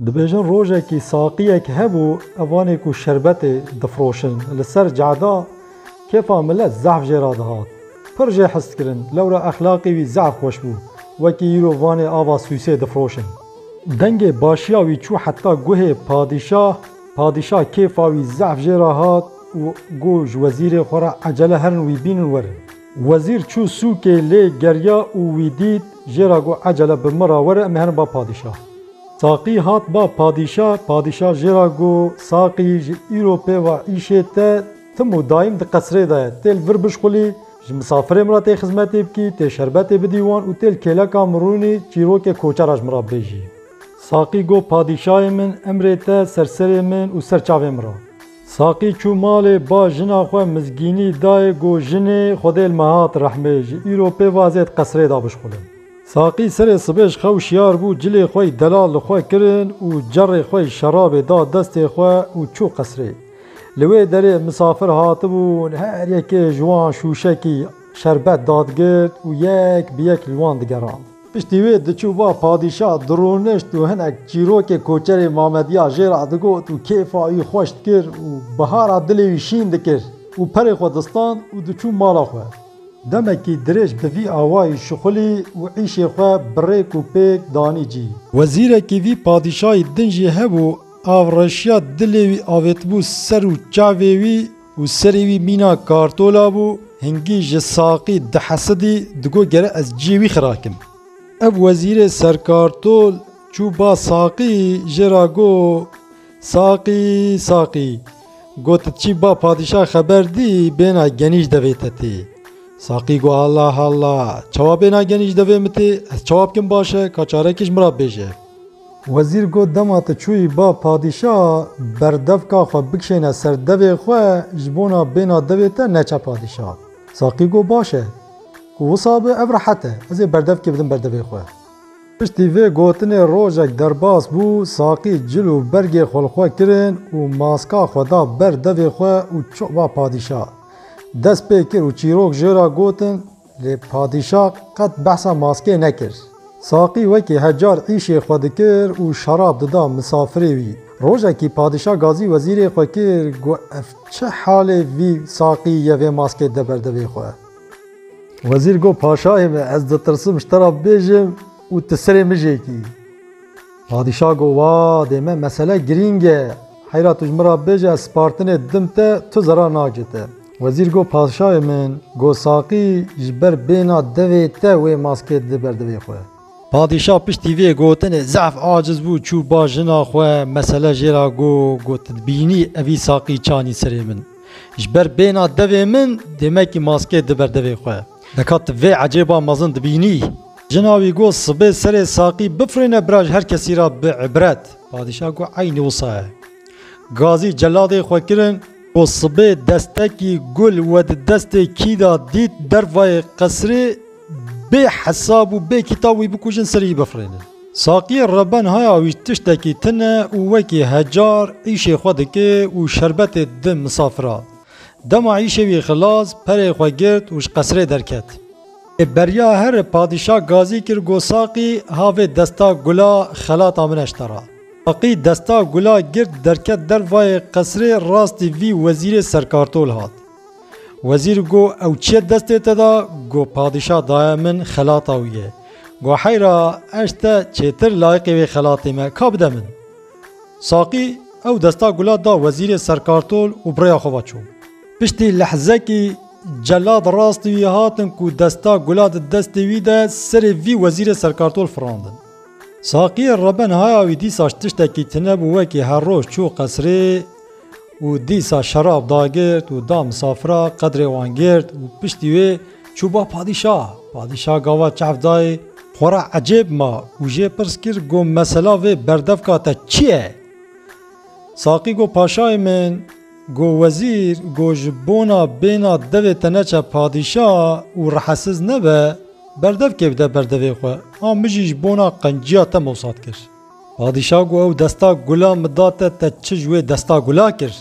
Dibêjin rojekî saqiyek hebû evanê ku şerbetê difiroşin li ser cada kêfa milet zehf jê re dihat. Pir jê hist kirin lewra exlaqê wî zehf xweş bû wekî îro vanê ava sûsê difiroşin. Dengê başiya wî çû heta guhê padîşah, padîşah kêfa wî zehf jê re hat û got ji wezîrê xwe re ecele herin wî bînin werin. Wezîr çû sûkê lê geriya û wî dît jê ra got ecele bi min ra were em ê herin ba padîşah. Saqî hat ba padîşah, padîşah jê ra got Saqî ji îro pê va îşê te tim û dayim di qesrê de ye, têl vir bişxulî, ji misafirê min ra tê xizmetê bikî, tê şerbetê bidî wan û têl kêleka min rûnî çîrokê koçe ra ji min ra bibêjî. Saqî got padîşahê min emrê te ser serê min û ser çavê min ra. Saqî çû malê ba jina xwe mizgînî dayê go jinê xwedêl me hat rehmê ji îro pê va zêd qesrê da bişxulin. Saqî serê sibê ji xew şiyar bû cilê xwe yî delal li xwe kirin û cerrê xwe yî şerabê da destê xwe û çû qesrê. Li wê derê misafir hatibûn her yekê ji wan şûşekî şerbet dadigirt û yek bi yek li wan digerand. Piştî wê diçû ba padîşa dironişt û hinek çîrokê koçerê Mamediya jê re digot û kêfa wî xweş dikir û bihara dilê wî şîn dikir û perê xwe distand û diçû mala xwe. Demekî dirêj bi vî awayî şixulî û îşê xwe bi rêk û pêk danî cî. Wezîrekî vî padîşayî din jî hebû, av reşiya dilê wî avêtibû ser û çavê wî, Û serê wî mîna kartola bû, hingî ji saqî dihesidî, digot gere ez ciyê wî xirakim. Ev wezîrê serkartol çû ba saqî jê ra got, Saqî, saqî, got çî ba padîşah xeber dî bêna genîj devê te tê. Saqî got, Halla, halla, çawa bêna genîj devê min tê, ez çawa bikim baş e, ka çarekiş min ra bêje. Wezîr got, Dema tu çûyî ba padîşah berdevka xwe bikişêne ser devê xwe ji bona bêna devê te neçe padîşah. Saqî got, Baş e. Ku wisa be ev rehet e. Ez ê berdevkê bidim ber devê xwe. Piştî vê gotinê rojek derbas bû, Saqî cil û bergê xwe li xwe kirin û maska xwe da ber devê xwe û çû ba padîşah. Dest pê kir û çîrok jê re gotin, Lê padîşa qet behsa maskê nekir. Saqî wekî her car îşê xwe dikir û şerab dida misafirê wî. Rojekî padîşa gazî wezîrê xwe kir ku ev çi halê vî saqî ye vê maskê de ber devê xwe. Wezîr got paşayê me ez ditirsim ji te re bibêjim û tu serê min jê kî. Padîşa got wa dê me mesele girîng e. Heyra tu ji min re bibêje ez spartinê didim te tu zerar nake te. Wezîr got, Paşayê min, got saqî ji ber bêhna devê te wê maskê dide ber devê xwe. Padîşah piştî vê gotinê zehf aciz bû, çû ba jina xwe mesele jê re got, got Tu dibînî evî saqî çanî serê min. Ji ber bêhna devê min dêmekî maskê dide ber devê xwe. Deka tu vê ecêba mezin dibînî. Jina wî got, Sibê serê saqî bifirîne bira ji her kesî re bi îbret. Padîşah got, Eynî wisa ye. Gazî celadê xwe kirin ku sibê destekî gul we di destê kî da dît dervayê qesirê bê hesab û bê kîtab wî bikujin serî bifirînin. Saqiyê Reben haya wî tiştekî tune û wekî hecar îşê xwe dike û şerbetê dide misafiran. Dema îşê wî xilas, perê xwe girt û ji qesirê derket. Lê beriya here padîşa Gazî kir ku Saqî ha vê desta gula xelata min eştera. Taqî desta gula girt derket dervayê qesrê rastî vî wezîrê serkartol hat. Wezîr go ew çiye destê te da go padîşah daye min xelata wî ye. Go heyra ez te çêtir layiqê wê xelatê me ka bide min. Saqî ew desta gula da wezîrê serkartol û bi rêya xwe ve çû. Piştî lehzekî celad rastî wî hatin ku desta gula di destê wî de serê vî wezîrê serkartol firandin. Saqiyê Reben haya wî dîsaş tiştekî tune bû wekî her roj çû qesrê û dîsa şerab dagirt û da misafira qedrê wan girt û piştî wê çû ba padîşa. Padîşa gava çehf dayê xwe re ecêb ma û jê pirs kir go mesela vê berdevka te çi ye? Saqî go paşayê min Go wezîr, go ji bona bêna devê te neçe padîşa û rehesiz nebe, berdev kê bide ber devê xwe, ha min jî ji bona qenciya te mosat kir. Padîşa go ew desta gula min da te, te çi ji wê desta gula kir?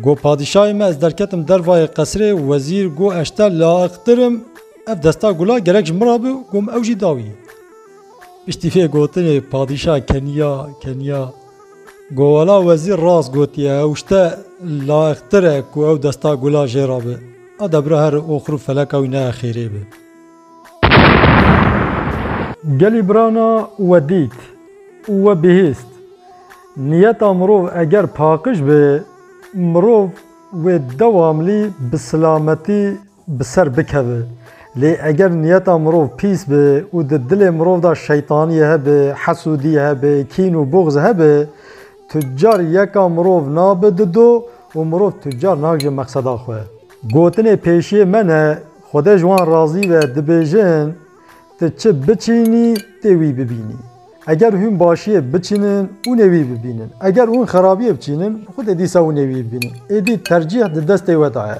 Go padîşayê me ez derketim dervayê qesirê, wezîr go ez te laiqtirim, ev desta gula gerek ji min re bi, go min ew jî da wî. Piştî vê gotinê padîşa keniya, keniya. Govela wezîr rast gotiye ew ji te layiqtir e ku ew desta gula jê re be. A debra her oxir û feleka wî neye xêrê be. Gelî birana we dît û we bihîst. Niyeta mirov eger paqij be, mirov wê dewamlî bi silametî bi ser bikeve. Lê eger niyeta mirov pîs be û di dilê mirov de şeytaniyê hebe, hesûdî hebe, kîn û buxz hebe, tucar yeka mirov nabe di do û mirov tucar nagihe meqseda xwe. Gotinê pêşiyê me ne, Xwedê ji wan razî be, dibêjin, Ti çi biçînî, tê wî bibînî. Eger hûn başiyê biçînin, hûnê wî bibînin. Eger hûn xerabiyê biçînin, Xwedê dîsa hûnê wî bibînin. Êdî tercîh di destê we de ye.